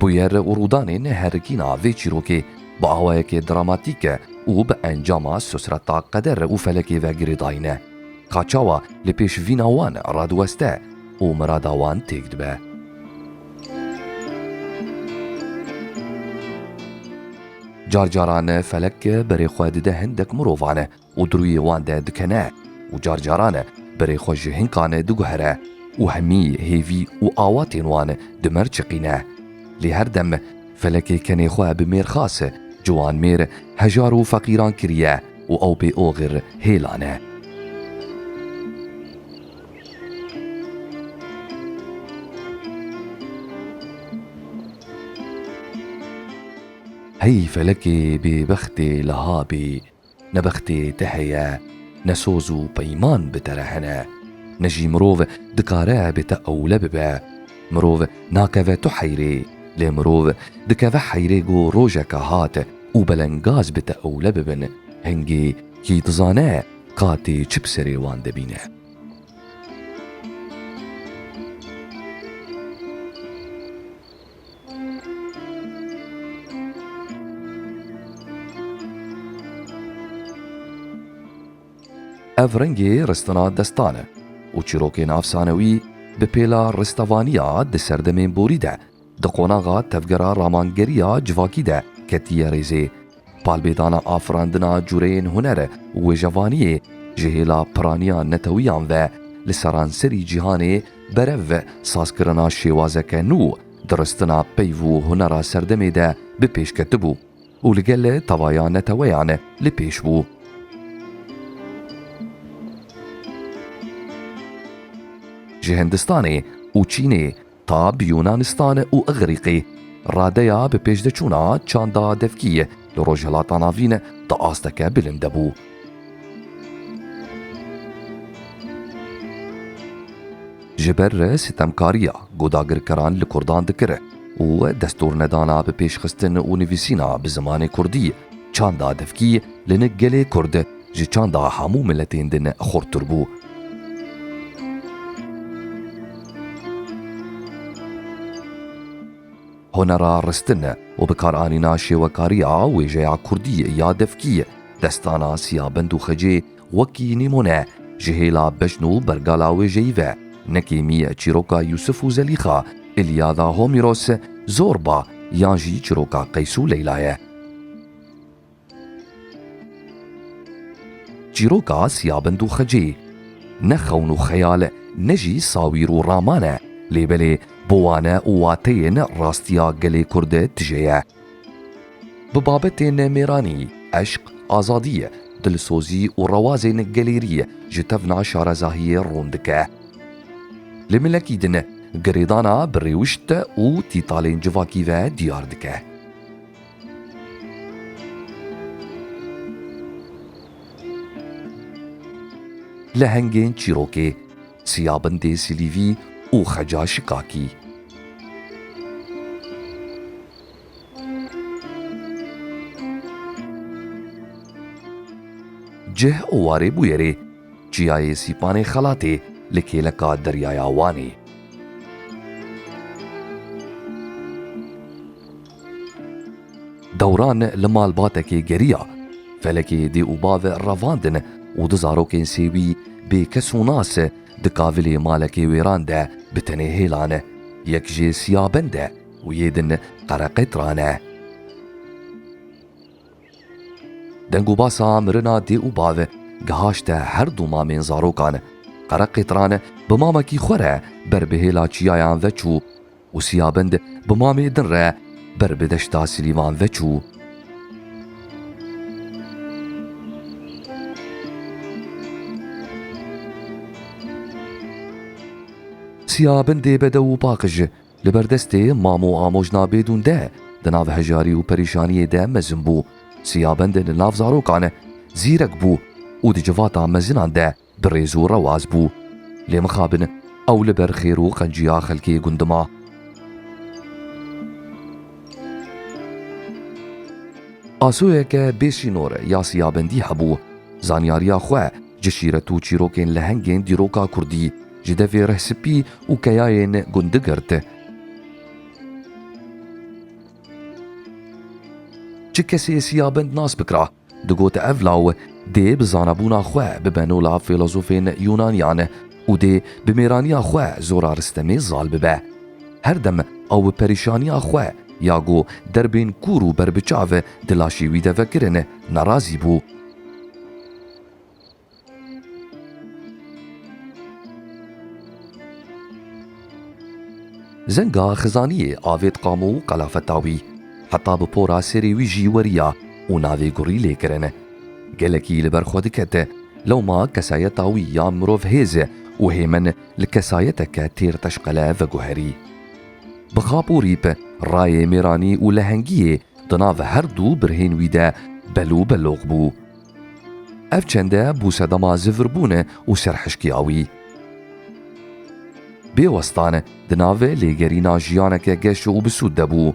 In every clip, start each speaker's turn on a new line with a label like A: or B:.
A: Bûyer û rûdanên herikîna vê çîrokê bi awayekê dramatîk û bi encama sosreta qeder û felekê ve girêdayî ne. Ka çawa li pêş vîna wan radiweste û mirada wan têk dibe. Carcaran felek berê xwe dide hindek mirovan û di rûyê wan de dikene û car caran berê xwe ji hinkan diguhere û hemî hêvî û awatên wan di mêr çiqîne. Lê her dem felekê kenê xwe bi mêrxas, ciwanmêr, hejar û feqîran kiriye û ew bê oxir hêla ne. Hey felekê bêbextê liha bê! Ne bextê te heye, ne soz û peyman bi te re hene. Ne jî mirov dikare bi te ewle bibe. Mirov nakeve tu heyrê, lê mirov dikeve heyrê ku rojeke hat û belengaz bi te ewle bibin, hingê kî dizane qatê çi bi serê wan de bîne. Ev rengê ristina destan e û çîrokên efsanewî bi pêla ristevaniya di serdemên borî de di qonaxa tevgera ramangeriya civakî de ketiye rêzê Palbêdana afirandina cureyên huner e û wêjevaniyê ji hêla piraniya netewiyan ve li seranserî cîhanê berev sazkirina şêwazeke nû diristina peyv û hunera serdemê de bi pêş ketibû û li gel tevaya neteweyan li pêş bû. Ji Hindistanê û Çînê ta bi Yûnanistan û Îgrîqî. Radeya bi pêşdeçûna çanda devkîyê li Rojhilata Navîn di asteke bilind de bû. Ji ber sitemkariya ku dagirkeran li kurdan dikir û destûrnedana bi pêşxistin û nivîsîna bi zimanê kurdî, çanda devkî li nik gelê kurd, ji çanda hemû miletên din xurttir bû. Hunera ristin û bikaranîna şêwekariya wêjeya kurdî ya devkî, destana Siyabind û Xecê wekî nîmûne ji hêla bejn û bergala wêjeyî ve, nekêmî çîroka Yûsif û Zelîxa, Îlyada Homîros, Zorba yan jî çîroka Qeys û Leyla ye. Çîroka siyabind û xecê, ne xewn û xeyal e, ne jî sawîr û raman e, lê belê bo wan e û wateyên rastiya gelê Kurd e tije ye. Bi babetên mêranî, eşq, azadî, dilsozî û rewazên gelêrî ji tevna şarezahiyê rûn dike. Li milekî din girêdana bi rêwişt û tîtalên civakî ve diyar dike. Lehengên çîrokê, Siyabindê Silîvî û Xeca Şikakî. Cih û warê bûyerê, Çiyayê Sîpanê Xelatê li kêleka Deryaya Wanê. Dewran li malbatekê geriya. Felekê dê û bavê revandin û du zarokên sêwî bê kes û nas di kavilê malekê wêran de bi tenê hêlan. Yek jê siya bend e û yê din qereqetran e. Deng û basa mirina dê û bav gihaşte her du mamên zarokan. Qereqetran bi mamekî xwe re ber bi hêla çiyayan veçû. û Siyabind bi mamê din re ber bi deşta Silîman ve çû. Siyabindê bedew û paqij li ber destê mam û amojna bêdûn de di nav hejarî û perîşaniyê de mezin bû. Siyabind li nav zarokan zîrek bû û di civata mezinan de bi rêz û rewaz bû. Lê mixabin ew li ber xêr û qenciya xelkê gund ma. Asoyeke bê sînor ya siyabendî hebû. Zanyariya xwe ji şîret û çîrokên lehengên dîroka kurdî, ji devê rih spî û keyayên gundi girt. Çi kesê siyabend nas bikira, Digot ev law dê bi zanabûna xwe bibe no la fîlozofên Yûnaniyan û dê bi mêraniya xwe zora Ristemê zal bibe. Her dem ew bi perîşaniya xwe ya ku derbên kûr û berbiçav di laşê wî de vekirin, nerazî bû. Zenga Xizaniyê avêt Qamo û Qelafetawî. Heta bi por a serê wî jî weriya û navê Gurî lê kirin. Gelekî li ber xwe dikete. Lewma kesayeta wî ya mirov hêz e û hêmin li kesayeteke têr teşqele veguherî. Bi xap û rîp, rayê mêranî û lehengiyê di nav her du birhên wî de bel û belox bû. Ev çende bû sedema zivirbûn e û serhişkiya wî. Bê westan di navê lêgerîna jiyaneke geş û bisûd de bû.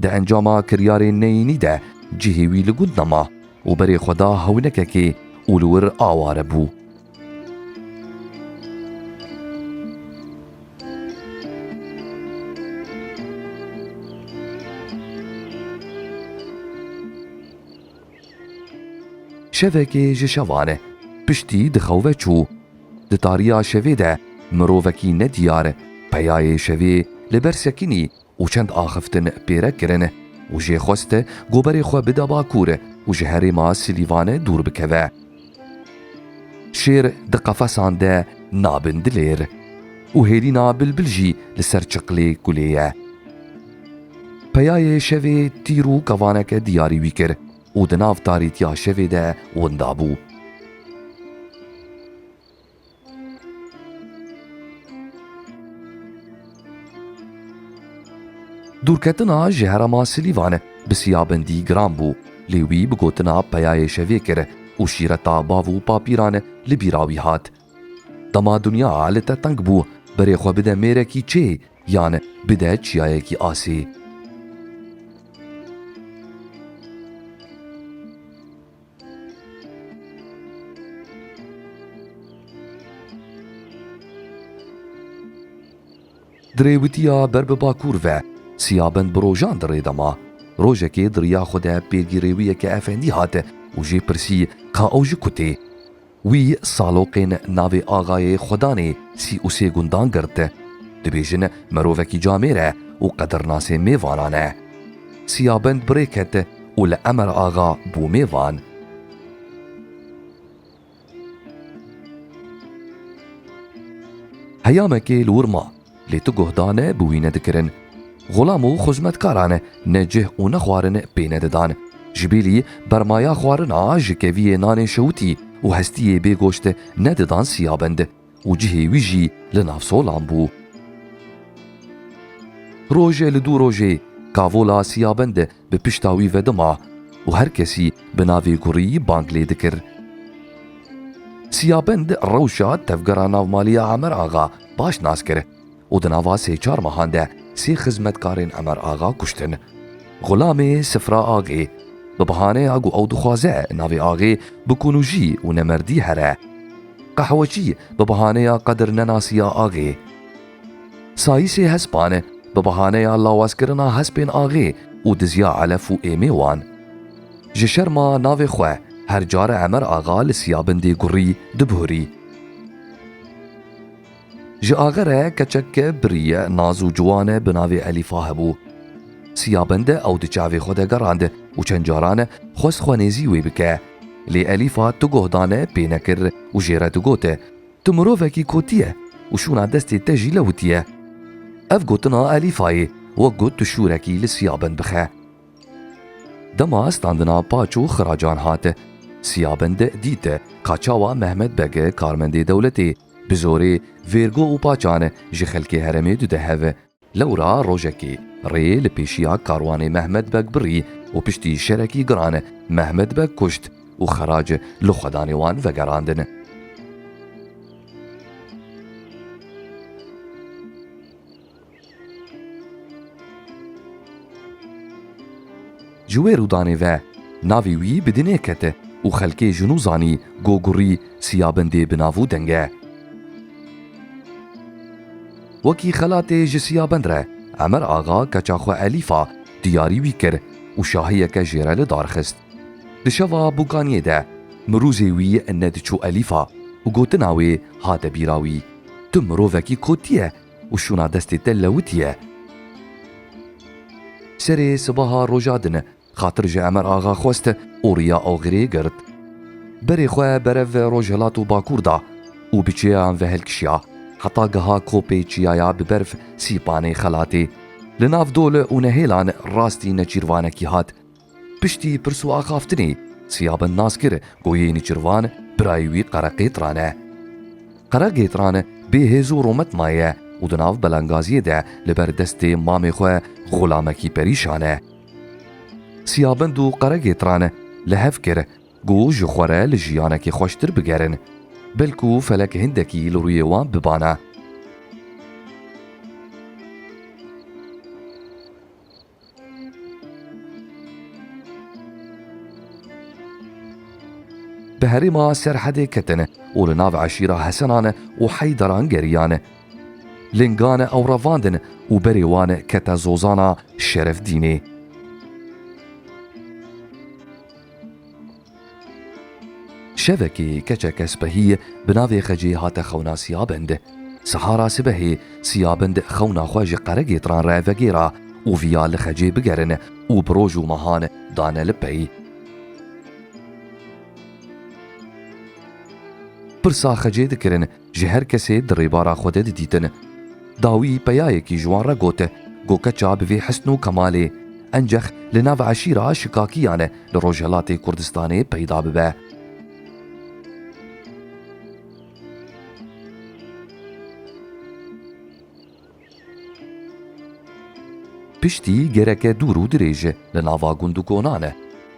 A: Di encama kiryarê neyînî de cihê wî li gund nema û berê xwe da hewnekekê û li wir aware bû. Şevekê ji şevan piştî dixewe çû. Di tariya şevê de mirovekî nediyar peyayê şevê li ber sekinî û çend axiftin pêre kirin û jê xwest goberê xwe bide bakur û ji herêma Silîvan dûr bikeve. Şêr di qefesan de nabin dilêr û hêrîna bilbil jî li ser çiqlê kulê ye. Peyayê şevê tîr û kevaneke diyarî wî kir û di nav tarîtiya şevê de winda bû. Dûrketina ji herêma Silîvan bi siyabindî giran bû, lê wî bi gotina peyayê şevê kir û şîreta bav û papîran li bîra wî hat. Dema dinya li te teng bû, berê xwe bide mêrekî çê yan bide çiyayekî asê. Di rêwitiya ber bi bakur ve Siyabind bi rojan di rê de ma. Rojekê di riya xwe de pêgirêwiyeke efendî hat û jê pirsî ka ew ji ku tê. Wî saloqên navê Axayê Xwedanê sî û sê gundan girt. Dibêjin mirovekî camêr e û qedirnasê mêvanan e. Siyabend birê ket û li Emer Axa bû mêvan. Heyamekê li wir ma. Lê tu guhdane bi wî ne dikirin. Xulam û xizmetkaran ne cih û ne xwarin pê ne didan. Ji bîlî bermaya xwarina ji keviyê nanê şewitî û hestiyê bê goşt ne didan siyabind û cihê wî jî li nav solan bû. Roj li dû rojê kavola siyabind bi pişta wî vedima û her kesî bi navê gurî bang lê dikir. Siyabend rewşa tevgera navmalî ya Emer Axa baş nas kir û di nava sê çar mehan de sê xizmetkarên Emer Axa kuştin. Xulamê Sifra Axê, bi bihaneya ku ew dixwaze navê Axê bi kunûjî û nemerdî here. Qehweçî, bi bihaneya qedir nenasiya Axê. Sayîsê hespan e, bi behaneya lawazkirina hespên axê û dizya elef û êmê wan. Ji şerma navê xwe her care Emer Axa li Siyabindê gurî dibihurî. Ji axe re keçeke birî ye, naz û ciwan e bi navê Elîfa hebû. Siyabind e ew di çavê xwe de gerand û çend caran e xwest xwe nêzî wê bike. Lê Elîfa tu goh dane pê nekir û jê re digot, Tu mirovekî kotî ye û şûna destê te jî lewitî ye. Ev gotina Elîfayê wek got tu şûrekî li Sîyaben bixe. Dema standina paç û xiracan hat Sîyaben de dît ka çawa Mehmet Beg karmendê dewletê bi zorê vêrgo û paçan ji xelkê heremê dide hev. Lewra rojekê rê li pêşiya karwanê Mehmet Beg birî û piştî şerekî giran Mehmet Beg kuşt û xerac li xwedanê wan vegerandin. Ji wê rûdanê ve navê wî bi dinê kete û xelkê ji nû zanî Gogurî Siyabindê bi nav û deng e. Wekî xelatê ji Siyabind re Emer Axa keça xwe Elîfa diyarî wî kir û şahiyeke jê re li dar xist. Di şeva Bûkaniyê de mirûzê wî nediçû Elîfa û gotina wê hate bîra wî, Tu mirovekî kotî ye û şûna destê te lewitiye. Serê sibaha roja din xatir ji Emer Axa xwest û riya Oxirê girt. Berê xwe berev rojhilat û bakûr da û bi çiyayan ve hilkişiya heta geha kopê çiyaya bi berf sîpanê xelatê. Li nav dol û nehêlan rastî neçîrvanekî hat. Piştî pirs û axaftinê Siya bin nas kir ku yê Nîçirvan birayê wî Qereqêtran e. Qereqêtran bê hêz û rûmet maye û di nav Belengaziyê de li ber destê mamê xwe xulamekî perîşan e. Siya bin û Qereqêtran li hev kir ku ji xwe re li jiyanekê xweştir bigerin. Belkû felek hindekî li rûyê wan bibana. Di herêma Serhedê ketine û li nav eşîra Hesenan e û Heyderan geriyan e. Lingan e ew revandin û berê wan e kete Zozana Şerefdînê. Şevekê keçeke spehî bi navê Xecê hate xewna Siyabind. Siha ra sibehê Siyabind xewna xwe ji qeregêtran re vegêra û viya li Xecê bigerin û bi roj û mehan dane li pey. Pirsa Xecê dikirin Ji her kesê di rêbara xwe de didîtin. Dawî peyayekî ji wan re got, Go keça bi vê hisn û kemalê, encex li nav eşîra Şikakiyan li Rojhilatê Kurdistanê peyda bibe. Piştî gereke dûr û dirêj e, li nava gund û konan e.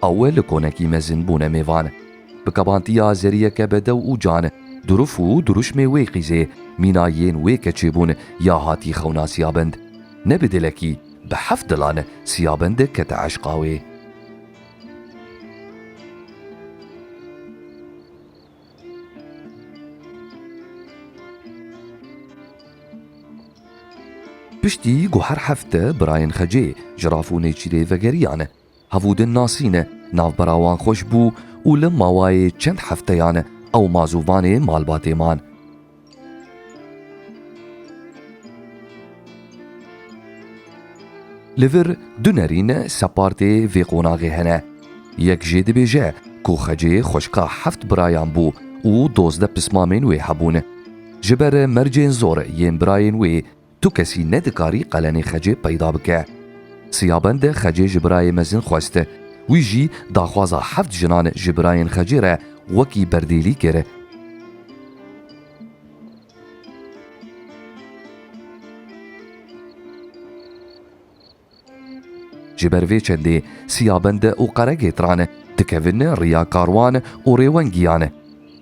A: Ew li konekî mezin bûne mêvan. Bi kebantiya zeriyeke bedew û can, durûf û durûşmê wê qîzê, mîna yên wê keçê bûn ya hatî xewna Siyabend. Ne bi dilekî, bi heft dilan Siyabend kete eşqa wê. Piştî ku her hefte birayên Xecê ji raf û nêçîrê vegeriyane, hevûdin nasîne, navbera wan xweş bû û li mawayê çend hefteyan ew mazûvanê malbatê man. Li vir du nerîn separtê vê qonaxê hene. Yek jê dibêje ku xecê xweşka heft birayan bû û dozdeh pismamên wê hebûn. Ji ber mercên zor yên birayên wê Tu kesî nedikarî qelenê xecê peyda bike. Siyabende xecê ji birayê mezin xwest. Wî jî daxwaza heft jinan ji birayên xecê re wekî berdêlî kir. Ji ber vê çendê Siyabend û Qeregêtran dikevin riya karwan û rêwengiyan.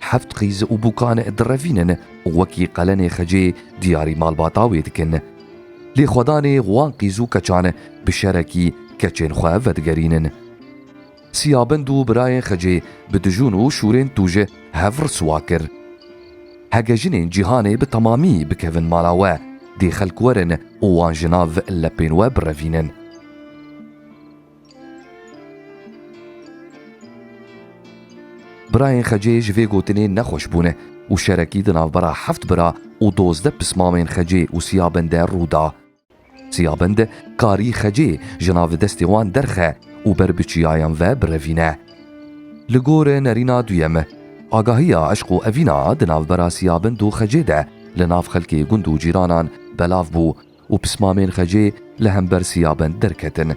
A: Heft qîz û bûkan direvînin û wekî qelenê xecê diyarî malbata wê dikin. Lê xwedanê wan qîz û keçan bi şerekî keçên xwe vedigerînin. Siyabind û birayên Xicê bi dijûn û şûrên tûji hev riswa kir. Hege jinên cîhanê bi temamî bikevin mala we, dê xelk werin û wan ji nav lepên we birevînin. Birayên Xicê ji vê gotinê nexweş bûne û şerekî di navbera heft bira û dozdeh pismamên Xicê û Siyabind de rû da. Çiyabind karî xecê ji nav destê wan derxe û ber bi çiyayan ve birevîne. Li gor nerîna duyem, agahiya eşq û evîna di navbera çiyabind û xecê de li nav xelkê gund û cîranan belav bû û pismamên xecê li hember çiyabind derketin.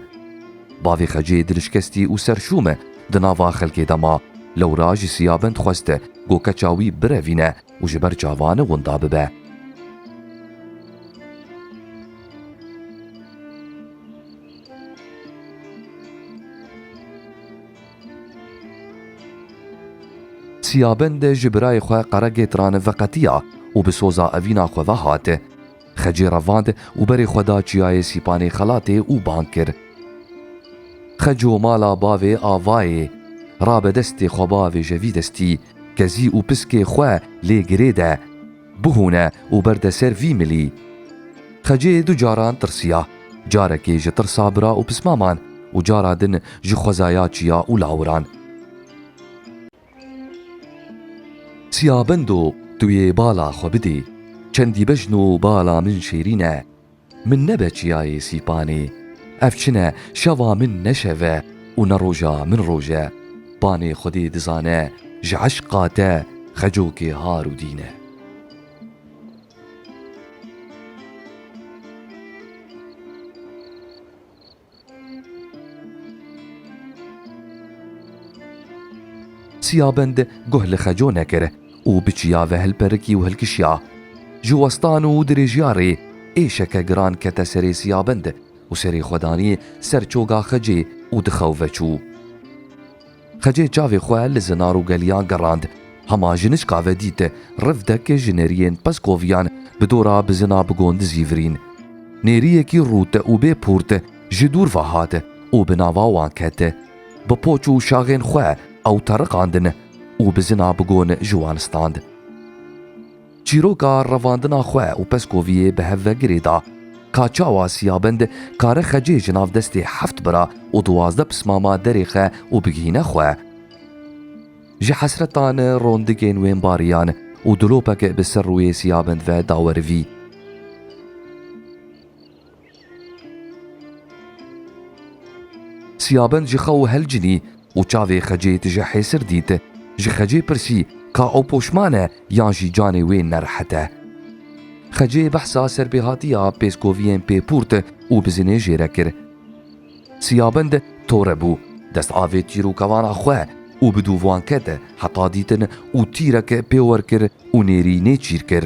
A: Bavê xecê dilişkestî û serşûm di nava xelkê de ma, lewra ji çiyabind xwest ku keça wî birevîne û ji ber çavani winda bibe. Siyabend ji birayê xwe Qeregêtrani veqetiya û bi soza evîna xwe ve hat. Xecê revand û berê xwe da çiyayê Sîpanê xelatê û bang kir. Xeco mala bavê Avayê rabe destê xwe bavê ji vî destî kezî û piskê xwe lê girê de bihûne û berde ser vî milî. Xecê du caran tirsiya, carekê ji tirsa bira û pismaman û cara din ji xwezaya çiya û lawiran. Çiya bendo tu yê bala xwe bidê. Çendî bejn û bala min şêrîn e. Min nebe çiyayê sîpanê. Ev çin e şeva min ne şev e û ne roja min roj e. Panê xwedê dizane ji eşqa te xecokê har û dîn e. Çiyabind guh li xeco nekir û bi çiyave hilperikî û hilkişiya. Ji westan û dirêjiya rê êşeke giran kete serê Çiyabind û serê xwe danî ser çoga xecê û di xew veçû. Xecê çavê xwe li zinar û geliyan gerand. Hema jiniçka ve dît, riv dek ji nêriyên Peskoviyan bi dora bizina bi gondizî virîn. Nêriyekî rût û bê pûrt ji dûr ve hat û bi nava wan ket. Bi poç û şaxên xwe ew teriqandin û bizina bi gon ji wan stand. Çîroka revandina xwe û Peskoviyê bi hev ve girê da. Ka çawa Siyabind kare xecê ji nav destê heft bira û duwazdeh pismama derêxe û bigihîne xwe. Ji hesretan rondigên wên bariyan û dilopek bi ser rûyê Siyabind ve dawerivî. Siyabend ji xew helcinî û çavê xecê tije hêsir dît. Ji xecê pirsî ka ew poşman e yan jî canê wê nerehet e. Xecê behsa serbêhatiya pêskoviyên pêpûrt û bizinê jê re kir. Siyabend tore bû, dest avê tîr û kevana xwe û bi dû van ket heta dîtin û tîrek pê wer kir û nêrî nê çîr kir.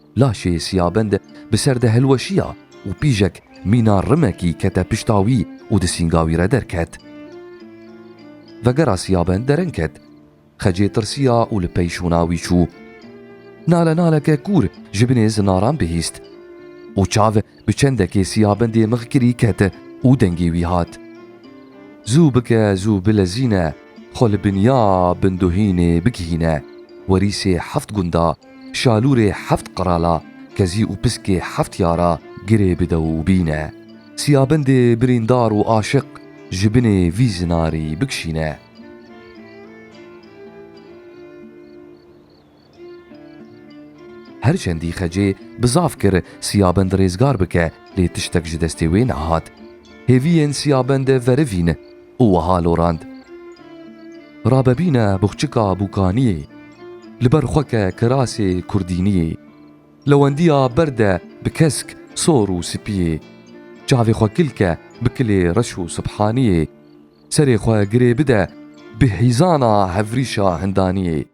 A: Laşê Siyabend bi ser de hilweşiya û pîjek mîna rimekî kete pişta wî û di sînga wî re derket. Vegera Siyabend derin ket. Xecê tirsiya û li pey şûna wî çû. Nale naleke kûr ji binê zinaran bihîst. Û çav bi çendekê Siyabendê mix kirî ket û dengê wî hat. Zû bike zû bilezîne xwe li binya binduhînê bigihîne werîsê heft gunda Şalûrê heft qirala, kezî û piskê heft yara girê bi dew bîne. Siyabendê birîndar û aşiq ji binê vî zinarî bikişîne. Her çendî xecê bi zaf kir Siyabend rêzgar bike lê tiştek ji destê wê nehat. Hêviyên Siyabende verivîn. û wiha lorand, Rabebîne buxçika bûkaniyê, li ber xwe ke kirasê kurdîniyê, lewendiya ber de bi kesk sor û sipiyê, çavê xwe kil ke bi kilê reş û sibhaniyê, serê xwe girê bide bi hîzana hevrîşa hindaniyê.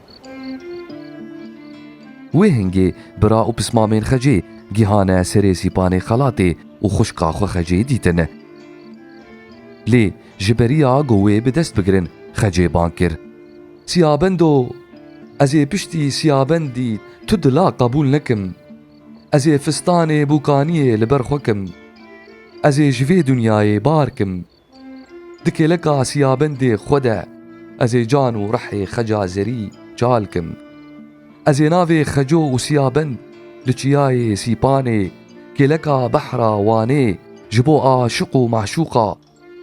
A: Wê hingê bira û pismamên xecê gihane serê sîpanê xelatê û xwişka xwe xecê dîtin. Lê ji beriya ku wê bi dest bigirin xecê bang kir. Siyabendo! Ez ê piştî siyabendî tu dila qebûl nekim. Ez ê fistanê bûkaniyê li ber xwe kim. Ez ê ji vê dinyayê bar kim. Di kêleka siyabendê xwe de ez ê can û rihê xeca zerî çal kim. Ez ê navê xeco û siyabend li çiyayê Sîpanê kêleka behra Wanê ji bo aşiq û maşûqa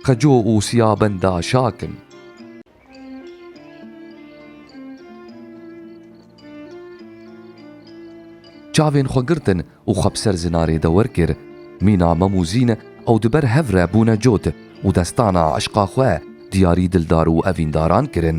A: xeco û siyabenda şa kim. Çavên xwe girtin û xwe bi ser zinarê de wer kir. Mîna mem û zîn ew di ber hev re bûne cot û destana eşqa xwe diyarî dildar û evîndaran kirin.